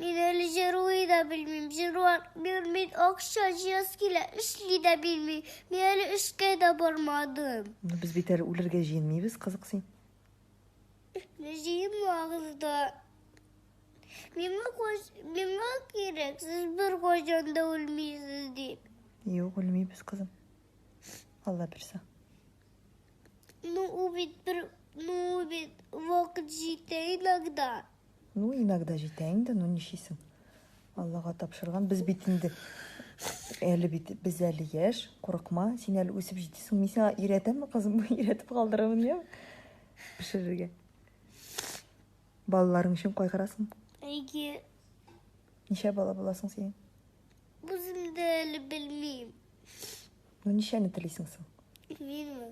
Мин әле җырлый да белмим, җырлар бирмин, акча җыяс килә, эшли дә белмим. Мин әле эшкә дә бармадым. Ну, без бит әле үлергә җыенмыйбыз, кызык син. Не җыенмагыз да. Миңа, куш... Миңа кирәк, сез бер кайчан да үлмисез дип. Юк, үлмибез, кызым. Алла бирсә. Ну, убит бер... Ну, убит вакыт җитә иногда. Ну, иногда җитә инде, ну ничисең. Аллага тапшырган. Без бит инде әле бит без әле яшь, курыкма, син әле үсеп җитәсең. Мин сиңа өйрәтәме, кызым, өйрәтеп калдырамын, я? Пешерергә. Балаларың өчен кайгырасың? Әйе. Ничә бала буласың син? Үзем дә әле белмим. Ну, ничәне телисең соң? Минме?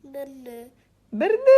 Берне. Берне?